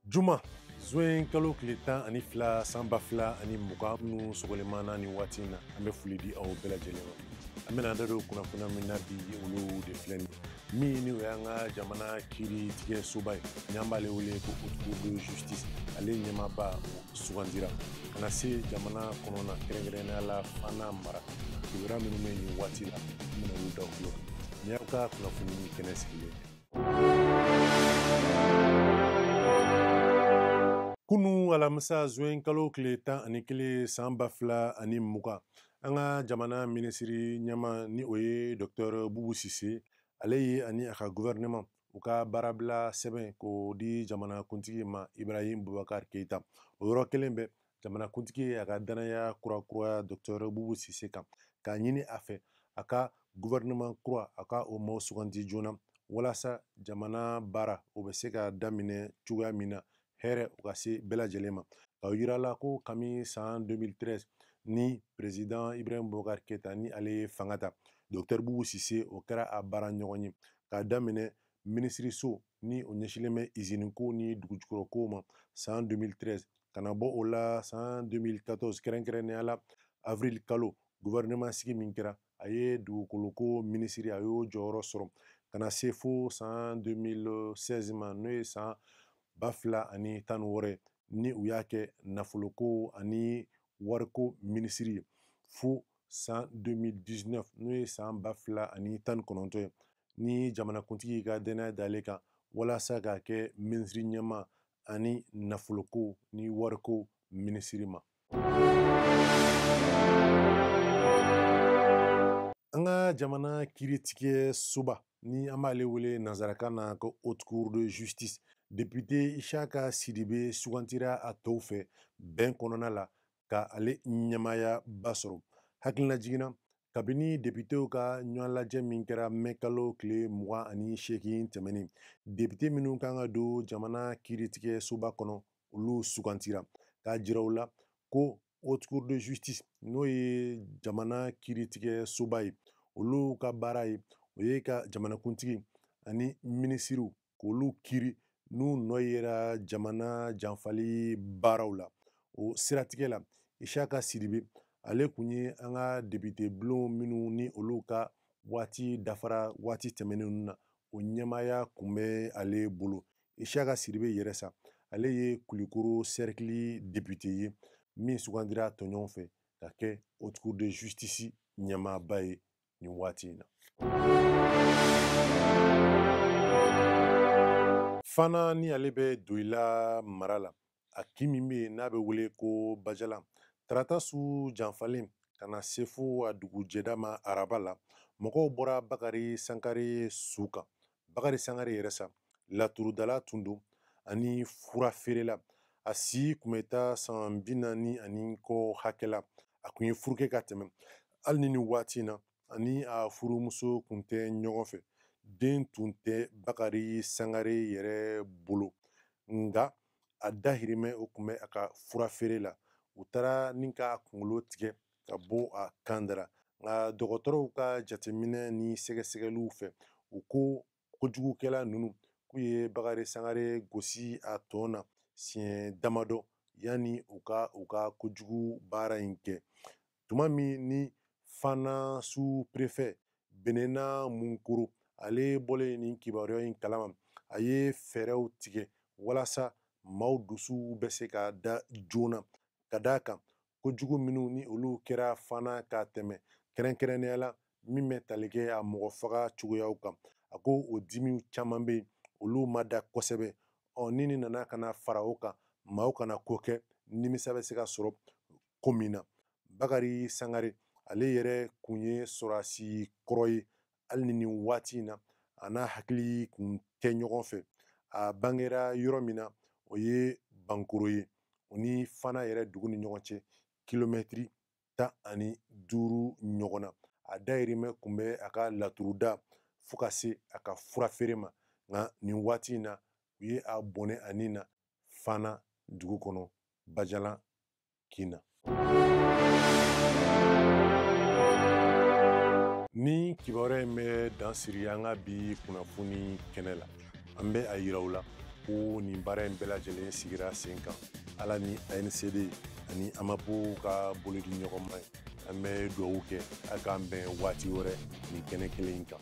juma zuwen kalo tile tan ani fila san ba fila ani mugan minnu sogolemaana nin waati na an bɛ foli di aw bɛɛ lajɛlen ma an bɛna da don kunnafoniya min na bi olu de filɛ nin min ni o y'an ka jamana kiiri tigɛ soba ye n'an b'ale wele ko haute cour de justice ale ɲɛmaaba o sugandira ka na se jamana kɔnɔna kɛrɛnkɛrɛnnenya la fana mara kibaruya minnu bɛ nin waati la an bɛna olu da aw tulo kan nin y'aw ka kunnafoni kɛnɛ sigilen kunu alamisa zuwen kalo tile tan ani kelen san ba fila ani mugan an ka jamana minisiri ɲɛmaa ni o ye dɔktɛr bubu sise ale ye ani a ka guvɛrɛnɛman u ka baarabila sɛbɛn k'o di jamana kuntigi ma ibrahim bubakar keita o yɔrɔ kelen bɛɛ jamanakuntigi ye a ka dannaya kura kuraya dɔktɛr bubu sise kan k'a ɲini a fɛ a ka guvɛrɛnɛman kura a ka o maaw suganti joona walasa jamana baara o bɛ se ka daminɛ cogoya min na hɛrɛ o ka se bɛɛ lajɛlen ma k'a yira aw la ko kami san 2013 ni prezidan ibrahim bubakar keita ni ale ye fanga ta dɔktɛr bubu sise o kɛra a baara ɲɔgɔn ye k'a daminɛ minisiriso ni o ɲɛsinlen bɛ izini ko ni dugujukɔrɔ ko ma san 2013 ka na bɔ o la san 2014 kɛrɛnkɛrɛnnenya la avril kalo gouvernement sigi min kɛra a ye dugukoloko minisiri a y'o jɔyɔrɔ sɔrɔ ka na se fo san 2016 ma n'o ye san ba fila ani tan ni wɔɔrɔ ni u y'a kɛ nafoloko ani wariko minisiri ye fo san 2019 n'o ye san ba fila ani tan ni kɔnɔntɔn ye ni jamanakuntigi ka dannaya d'ale kan walasa k'a kɛ minisiri ɲɛmaa ani nafoloko ni wariko minisiri ma an ka jamana kiiritigɛ soba ni an b'ale wele nanzarakan na ko haute cour de justice député Ishaka Sidibe sugantira a tɔw fɛ bɛn kɔnɔna la ka ale ɲɛmaaya ba sɔrɔ hakilinajigin na kabini depitew ka ɲɔgɔnlajɛ min kɛra mɛ kalo tile mugan ani seegin tɛmɛnen depite minnu kan ka don jamana kiiritigɛ soba kɔnɔ olu sugantira k'a jira aw la ko haute cour de justice n'o ye jamana kiiritigɛ soba ye olu ka baara ye o ye ka jamanakuntigi ani minisiriw k'olu kiiri n'u nɔ yera jamana janfali baaraw la o siratigɛ la isaka sidibe ale kun ye an ka depite bulon minnu ni olu ka waati dafara waati tɛmɛnen na o ɲɛmaaya kun bɛ ale bolo isaka sidibe yɛrɛ sa ale ye kulikoro sɛrikili depite ye min sugandira tɔɲɔgɔn fɛ ka kɛ haute cour de justice ɲɛmaaba ye nin waati in na fana ni ale bɛ doyila mara la a kin min bɛ yen n'a bɛ wele ko bajalan tarata su janfalen ka na se fo a dugujɛda ma araba la mɔgɔw bɔra bakari sangare su kan bakari sangare yɛrɛ sa laturudala tun don ani fura feerela a si kun bɛ taa san bi naani ani kɔ hakɛ la a kun ye furu kɛ ka tɛmɛ hali ni nin waati in na ani a furumuso kun tɛ ɲɔgɔn fɛ den tun tɛ bakari sangare yɛrɛ bolo nka a dahirimɛ o kun bɛ a ka fura feere la u taara nin k'a kunkolo tigɛ k'a bɔ a kan dara nka dɔgɔtɔrɔw ka jateminɛ ni sɛgɛsɛgɛliw fɛ u ko kojugukɛla ninnu k'u ye bakari sangare gosi a tɔn na siɲɛ damadɔ yanni u ka u ka kojugu baara in kɛ tuma min ni fana suprefɛ benena munkoro ale bɔlen nin kibaruya in kalama a ye fɛɛrɛw tigɛ walasa maaw dusuw bɛ se ka da joona ka d'a kan kojugu minnu ni olu kɛra fana ka tɛmɛ kɛrɛnkɛrɛnnenya la min bɛ tali kɛ a mɔgɔ faga cogoyaw kan a ko o dimiw caman bɛ yen olu ma da kosɛbɛ ɔ ni nin nana ka na fara o kan maaw kana ko kɛ nimisa bɛ se ka sɔrɔ ko min na bakari sangare ale yɛrɛ kun ye sɔrɔdasi kɔrɔ ye hali ni nin waati in na a n'a hakili kun tɛ ɲɔgɔn fɛ a bangera yɔrɔ min na o ye bankoro ye o ni fana yɛrɛ dugu ni ɲɔgɔn cɛ kilomɛtiri tan ani duuru ɲɔgɔn na a dahirimɛ kun bɛ a ka laturuda fo ka se a ka fura feere ma nka nin waati in na u ye a bɔnɛ a ni na fana dugu kɔnɔ bajalan kin na nin kibaruya in bɛ dan siri an ka bi kunnafoni kɛnɛ la an bɛ a yira aw la ko nin baara in bɛɛ lajɛlen sigira sen kan ala ni ancd ani amap ka bolodiɲɔgɔnma ye an bɛ dugawu kɛ a k'an bɛn waati wɛrɛ nin kɛnɛ kelen in kan